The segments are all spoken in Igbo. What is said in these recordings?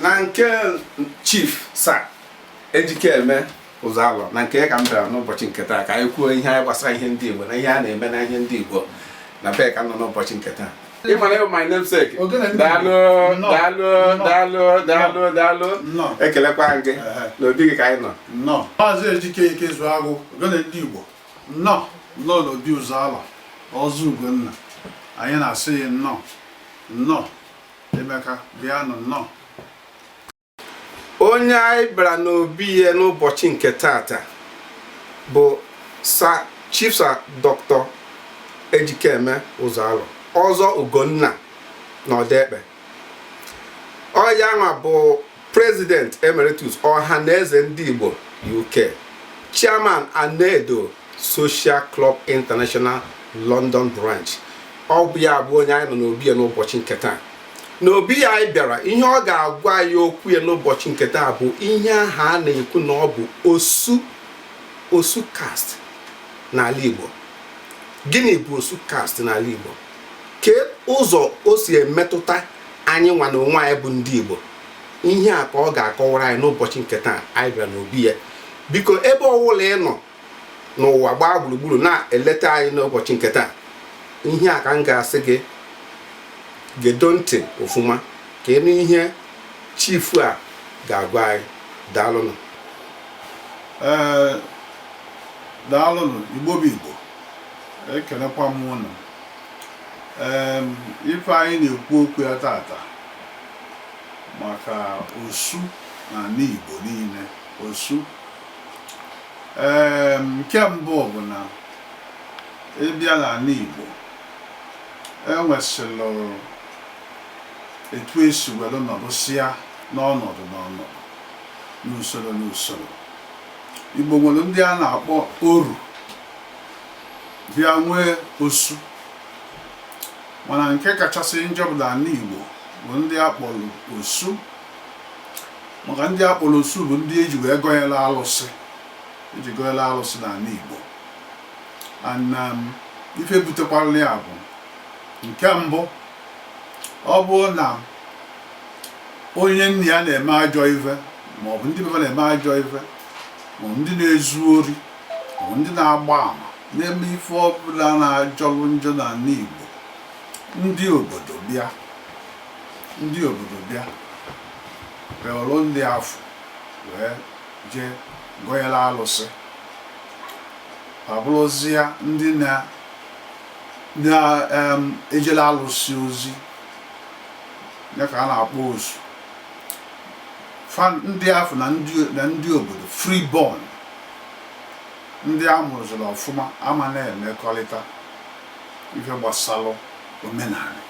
na nke chief sa ejikeme ụzọalọ na nke ya ka m bịara n'ụbọchị nke taa ka anyị kwuo ihe anyị gbasara ihe ndị igbo na ihe a na-eme na ihe ndị igbo na be ya ka m nọ n'ụbọchị nke taa ị mara ị bụ my namesake daalụ daalụ daalụ daalụ daalụ ekelekwa m gị na obi gị ka anyị nọ maazị ejike ikezuagụ ogene ndị igbo nnọọ nnọọ n'obi ụzọalọ ọzọ ugonna anyị na-asị gị nnọọ nnọọ Imeka bịanụ nnọọ onye anyị bịara n'obi ya n'ụbọchị nke tata bụ sa chief sa dr ejikeme ụzọalọ ọzọ ugonna na odekpe ọ ya nwa bụ President Emeritus Ohanaeze Ndị Igbo UK, Chairman Anaedo Social Club International London Branch ọ bụ ya bụ onye anyị nọ n'obi ya n'ụbọchị nke taa n'obi ya anyị bịara ihe ọ ga-agwa anyị okwu ya n'ụbọchị nke taa bụ ihe ahụ a na-ekwu na ọ bụ osu osu caste n'ala Igbo gịnị bụ osu caste n'ala Igbo kee ụzọ o si emetụta anyị nwa n'onwe anyị bụ ndị Igbo ihe a ka ọ ga-akọwara anyị n'ụbọchị nke taa anyị bịara n'obi ya biko ebe ọwụla ị nọ n'ụwa gbaa gburugburu na-eleta anyị n'ụbọchị nke taa ihe a ka m ga-asị gị gedo ntị ofuma ka ị nụ ihe chief a ga-agwa anyị daalụnụ ee daalụnụ igbo bụ igbo ekenekwa m ụnụ ife anyị na-ekwu okwu ya tata maka osu na anị Igbo niile osu ee nke mbụ bụ na ị bịa na anị Igbo e nwesịrị etu e si welu nọdụsịa n'ọnọdụ n'ọnọdụ n'usolo n'usolo Igbo nwere ndị a na-akpọ oru bịa nwee osu mana nke kachasị njọ bụ na ana Igbo bụ ndị a kpọrọ osu maka ndị a kpọlụ osu bụ ndị e ji wee gọnyere alụsị e ji gọnyere alụsị na anị Igbo and um, ife butekwara ya bụ nke mbụ ọ bụrụ na onye nna ya na-eme ajọ ife maọbụ ndị be fa na-eme ajọ ife maọbụ ndị na-ezu ori bụ ndị na-agba ama na-eme ife ọbụla na-ajọlụ njọ n'ani Igbo ndị obodo bịa ndị obodo bịa ba ewelụ ndị afụ wee jee gọyere alụsị ba abụrụzịa ndị na-ejele alụsị ozi ya ka a na-akpọ osu ndị afụ na ndị obodo free born ndị a mụziri ọfụma ama na-emekọrịta ife gbasalụ omenani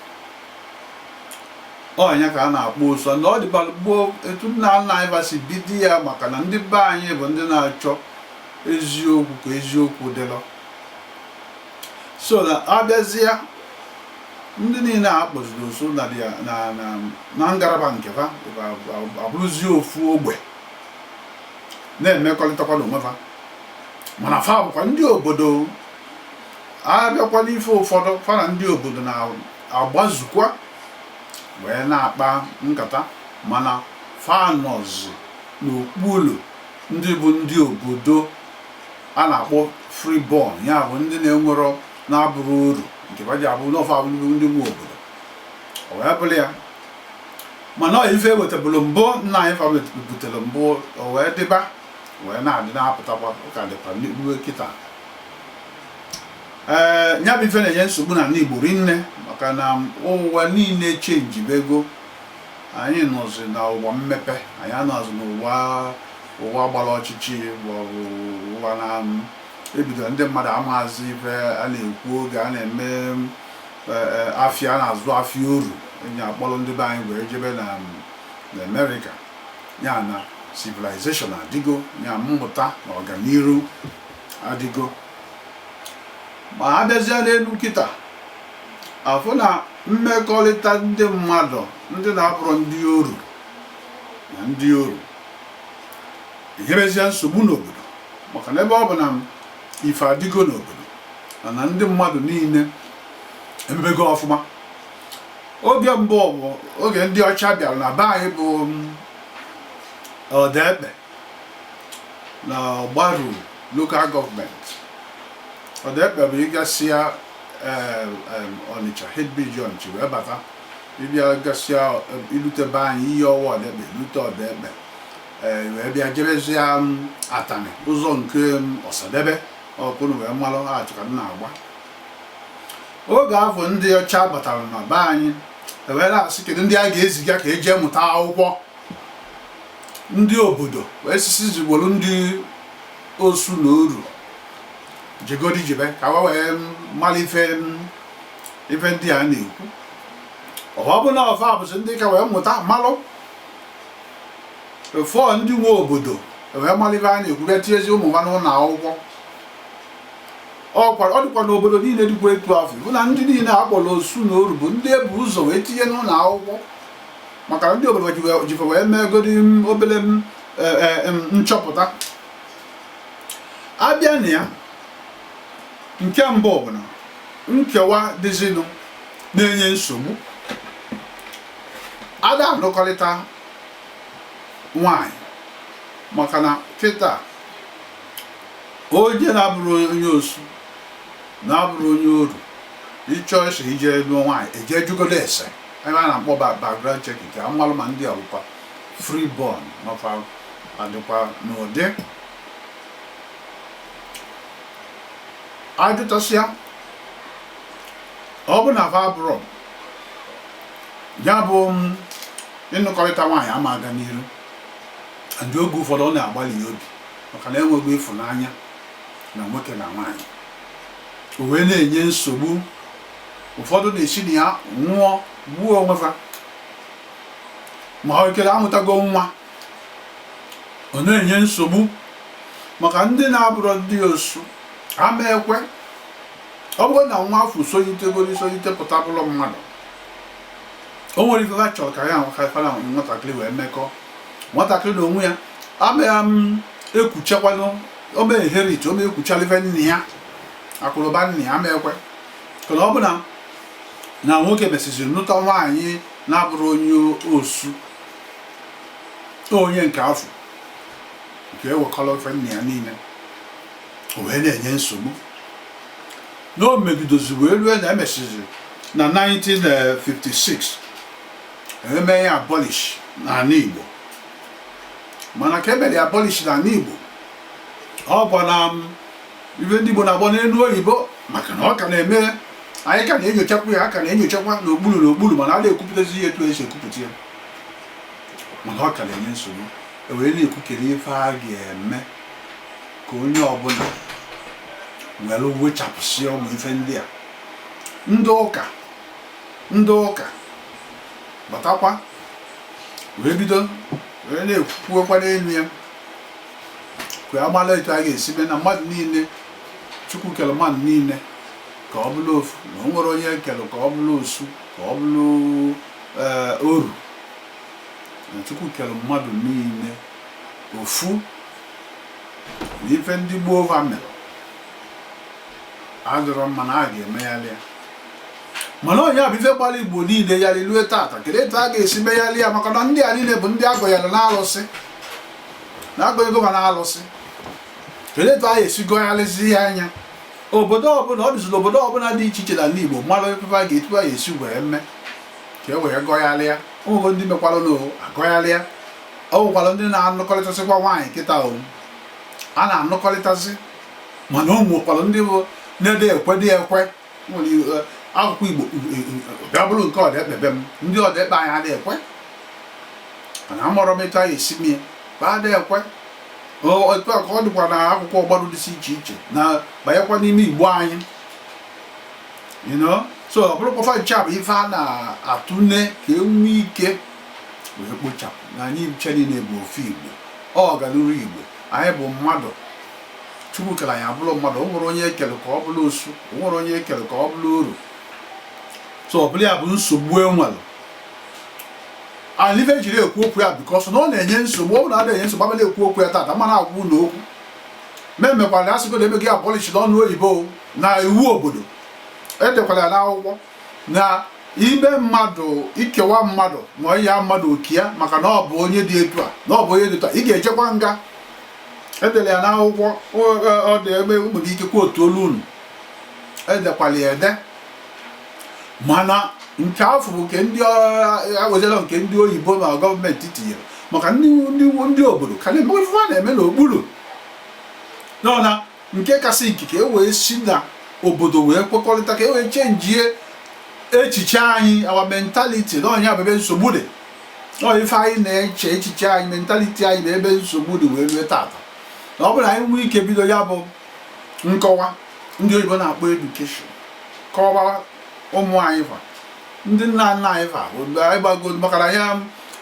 ọ nya ka a na-akpọ osu ọ dịbara gboo etu nna nna anyị ba si bido ya maka na ndị be anyị bụ ndị na-achọ eziokwu ka eziokwu dịlụ so a bịazịa ndị niile a kpọziri osu na ngalaba nke ha abụrụzie ofu ogbe na-emekọrịtakwa n'onwe fa mana fa bụkwa ndị obodo a bịakwa n'ife ụfọdụ fa na ndị obodo na-agbazukwa wee na-akpa nkata mana fa nọzi n'okpuru ndị bụ ndị obodo a na-akpọ freeborn ya bụ ndị na-enwerọ na-abụrọ oru nke ba ji abụ na ọ fa bụ ndị nwe obodo ọ wee bụrụ ya mana ọ ife e wetabụrụ mbụ nna anyị fa butere mbụ o wee dịba wee na-adị na-apụtakwa ụka dịkwa n'ikpuru kịta ee eh, ya bụ ife na-enye nsogbu n'ani Igbo rinne maka na ụwa niile changebego anyị nọzi na ụwa mmepe anyị anọzi n'ụwa ụwa gbara ọchịchị maọbụ ụwa na ebido ndị mmadụ amaazị ife a na-ekwu oge a na-eme afịa a na-azụ afịa oru enyi akpọrọ ndị be anyị wee jebe na na America ya na civilization adịgo ya mmụta na ọganiru adịgo ma a bịazie n'enu kịta a fụ na mmekọrịta ndị mmadụ ndị na-abụrọ ndị oru na ndị oru enyerezia nsogbu n'obodo maka na ebe ọ bụ na ife adịgo n'obodo mana ndị mmadụ niile emebego ọfụma oge mbụ bụ oge ndị ọcha bịara na be anyị bụ Odekpe na Ogbaru local government Odekpe bụ ị gasịa Ọnịcha head bridge Ọnịcha wee bata ị bịa gasịa i lute be anyị Iyiowa Odekpe lute Odekpe ee wee bịa jebezie Atani ụzọ nke Osadebe ọkụnụ wee malụ achọ ka m na-agwa oge afụ ndị ọcha batara na be anyị e were sị kedu ndị a ga-eziga ka e je mụta akwụkwọ ndị obodo wee sịsịzi kpọrọ ndị osu na oru jegodi jebe ka wa wee mara ife m- ife ndị a na-ekwu ọ bụ na ọ fa bụzi ndị ka wee mụta malụ before ndị nwe obodo wee malụ ife a na-ekwu bịa tinyezi ụmụ wa n'ụlọ akwụkwọ ọkwara ọ dịkwa n'obodo niile dịkwa etu afụ bụ na ndị niile a kpọrọ osu na oru bụ ndị e bu ụzọ wee tinye n'ụlọ akwụkwọ maka na ndị obodo ji fa wee meegodi obere e, e, nchọpụta a bịa na ya nke mbụ ọ bụ na nkewa dịzinụ na-enye nsogbu a da-alụkọrịta nwanyị maka na kịta onye na-abụrọ onye osu na-abụrọ onye oru ị chọsie ije lụọ nwaanyị e je jụgodu ese ife a na-akpọ background check ka a malụ ma ndị a bụkwa free born maka adịkwa n'ụdị a jụtasịa ọ bụ na fa abụrọ ya bụ ịnụkọrịta nwaanyị ama aga n'iru ndị oge ụfọdụ ọ na-agbali ya obi maka na e nwego ịfụnanya na nwoke na nwaanyị o wee na-enye nsogbu ụfọdụ na-esi na ya nwụọ gbuo onwe ha ma ọ kere a mụtago nwa ọ na-enye nsogbu maka ndị na-abụrọ ndị osu ama ekwe ọ bụrụ na nwa afụ solitegoro isolite pụta bụrụ mmadụ o nwerọ ife ha chọrọ ka ya ahụ ka fa na nwatakịrị wee mekọ nwatakịrị na onwe ya ama ekuchikwanụ ọ ma inherit ọ ma ekuchili ife nna ya akụ na ụba nna ya ama ekwe kana ọ bụ na na nwoke mesịziri nụta nwaanyị na-abụrọ onye osu onye nke afụ ga-ewekọrọ ife nna ya niile o wee na-enye nsogbu na o megidozi wee rue na e mesịzi na 1956 e mee ya abolish n'ala Igbo mana ka e mere ya abolish n'ala Igbo ọ bụ na um, ife ndị Igbo na-akpọ n'elu oyibo maka na ọ ka na-eme anyị ka na-enyochakwa ya a ka na-enyochakwa n'okpuru n'okpuru mana a da-ekwupụtazi ya etu e si ekwupụta ya mana ọ ka na-enye nsogbu e were na-ekwu kedu ife a ga-eme ka onye ọbụla were wechapụsịa ụmụ ife ndị a ndị ụka ndị ụka batakwa wee bido wee na-ekwukwuokwa n'elu ya ka a mara etu a ga-esi mee na mmadụ niile chukwu kere mmadụ niile ka ọ bụrụ ofu na o nwerọ onye e kere ka ọ bụrụ osu ka ọ bụrụ eh, oru na chukwu kere mmadụ niile ofu na ife ndị gboo va mere adịrọ mma na a ga-emegharị ya mana ọ ya bụ ife gbara igbo niile gharịị lue tata kedu etu a ga-esi megharị ya maka na ndị a niile bụ ndị a gọnyere n'alụsị na a gọnyego ha n'alụsị kedu etu a ga-esi gọgharịzi ya anya obodo ọbụla ọ dịziri obodo ọbụla dị iche iche n'anị igbo mara ebe a ga-etu a ga-esi wee mee ka e wee gọgharịa o nwego ndị mekwaranụ a gọgharịa o nwekwara ndị na-anụkọrịtasịkwa nwaanyị kịtaa o a na-anụkọrịtasị mana o nwekwara ndị bụ na adị ekwe adị ekwe e, akụkụ igbo e, e, bịa bụrụ nke ọdekpe be m ndị ọdekpe anyị adị ekwe mana amụrụ m ịta ya esi m ya ba adị ekwe otu a ka ọ dịkwa na akụkụ ọgbarụ dịsị iche iche na banyekwa n'ime igbo anyị so ọ bụrụkwọ fa ncha bụ ife a na-atụle ka e nwee ike wee kpochapụ na anyị ncha niile bụ ofu igbo ọ galuru igbo anyị bụ mmadụ chukwu kere anyị abụrụ mmadụ o nwerọ onye e kere ka ọ bụrụ osu o nwerọ onye e kere ka ọ bụrụ oru so ọ bụrụ ya bụ nsogbu e nwere ọ ife e jiri ekwu okwu ya because na ọ na-enye nsogbu ọ bụrụ na adịghị enye nsogbu abịala ekwu okwu ya tata mana agwụ na okwu memekwara asịgo na e mego ya abolish n'ọnụ oyibo na iwu obodo edekwara ya n'akwụkwọ na ime mmadụ ikewa mmadụ ma ya mmadụ oke ya maka na ọ bụ onye dị etu a na ọ bụ onye dị etu a ị ga-ejekwa nga e dere ya n'akwụkwọ ọ dị ebe nwere ike kwa otu olu unu edekwala ya ede mana nke afụ bụ nke ndị agwajala nke ndị oyibo ma government tinyere maka ndị obodo ka na-eme ife va na-eme n'okpuru nọ na nke kasị ike ka e wee si na obodo wee kwekọrịta ka e wee chenjie echiche anyị our mentality na ọ ya bụ ebe nsogbu dị ọ ife anyị na-eche echiche anyị mentality anyị bụ ebe nsogbu dị wee rue tata na ọ bụrụ na anyị nwee ike bido ya bụ nkọwa ndị oyibo na-akpọ education kọwa ụmụ anyị fa ndị nna nna anyị fa anabago maka na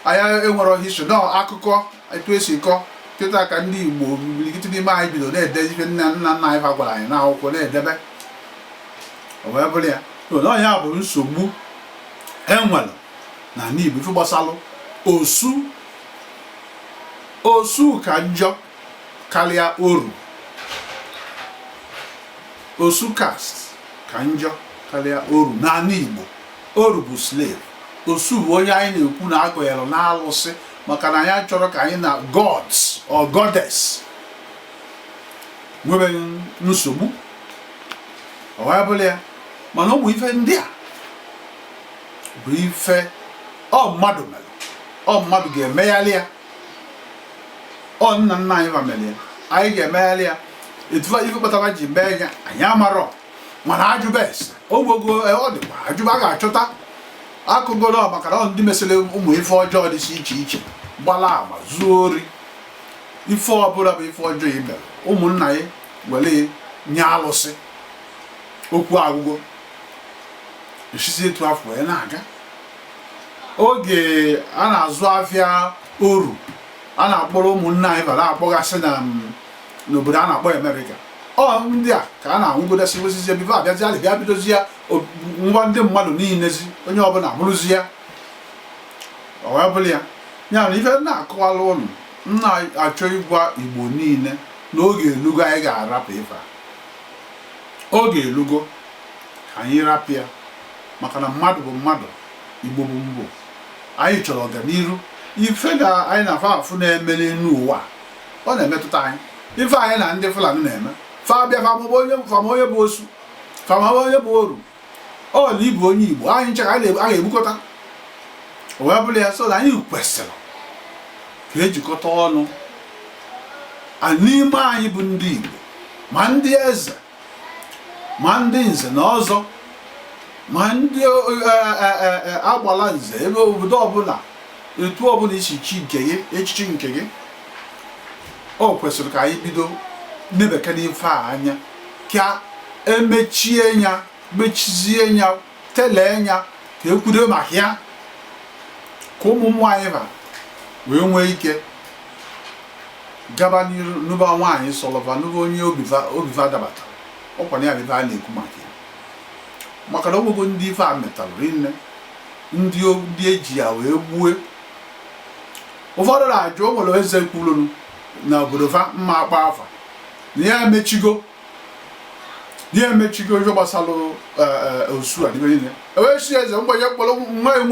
anyị enwerọ history na akụkọ etu esi kọ kịta ka ndị Igbo imirikiti n'ime anyị bido na-ede ife nna nna nna anyị ha gwara anyị n'akwụkwọ na-edebe o wee bụrụ ya na ya bụ nsogbu enwere na ala Igbo ife gbasalụ osu osu ka njọ karịa oru osu caste ka njọ karịa oru n'ala Igbo oru bụ slave osu bụ onye anyị na-ekwu na agọnyere n'alụsị maka na anyị achọrọ ka anyị na gods or goddess nwee nsogbu o wee bụrụ ya mana ọ bụ ife ndị a bụ ife ọ mmadụ mere ọ mmadụ ga-emegharị ya ọ nna nna anyị fa mere ya anyị ga-emegharị ya etu ife kpatara fa ji mee ya anyị amarọ mana ajụba ese ogbogo e, ọ dịkwa ajụba a ga-achọta akọgoro maka na ndị mesịrị ụmụ ife ọjọọ dị iche iche gbala ama zuo ori ife ọbụla bụ ife ọjọọ ime ụmụnna ya were nye alụsị okwu agwụgo esizi etu afụ wee na-aga oge a na-azụ afịa oru a na-akpọrọ ụmụnna anyị fa akpọgasị na mm, n'obodo a na-akpọ Amerịka ọ ndị a ka a na-anwụgodasị wesizie before abịazi alị bịa bidozie ngwa ndị mmadụ niilezi onye ọbụla bụrụzi ya ọ wee bụrụ ya ya na ife na-akọwara ụnụ m na-achọ ịgwa igbo niile na oge elugo anyị ga-arapụ ife a oge elugo ka anyị rapụ ya maka na mmadụ bụ mmadụ igbo bụ igbo anyị chọrọ ọganihu ife anyị na-afụ na-eme n'enu ụwa ọ na-emetụta anyị ife anyị na ndị Fulani na-eme fa bịa fa amaba onye fa ama onye bụ osu ka ma onye bụ oru ọ na ị bụ onye igbo anyị ncha ka anyị ga-ebukọta o wee bụrụ ya so na anyị kwesịrị ka ejikọta ọnụ n'ime anyị bụ ndị igbo ma ndị eze ma ndị nze na ọzọ ma ndị e, e, e, agbala nze ebe obodo ọbụla etu ọbụla isi chi nke gị echichi nke gị o kwesịrị ka anyị bido nebekene ife a anya ka emechie ya mechizie ya telee ya ka ekwudo maka ya ka ụmụ anyị fa wee nwee ike gaba n'iru nụba nwaanyị sọlọ fa nụba onye obi fa dabatara ọkwa na ya ife a na-ekwu maka ya maka na o nwego ndị ife a metara rinne ndị eji ya wee gbue ụfọdụ na-ajụ o nwere eze kwuru na obodo fa mma akpọ afa na ya emechigo ya emechigo ife gbasara eh, eh, osu a dịbe niile ewee si eze mgbe ya kpọrọ nwa enwe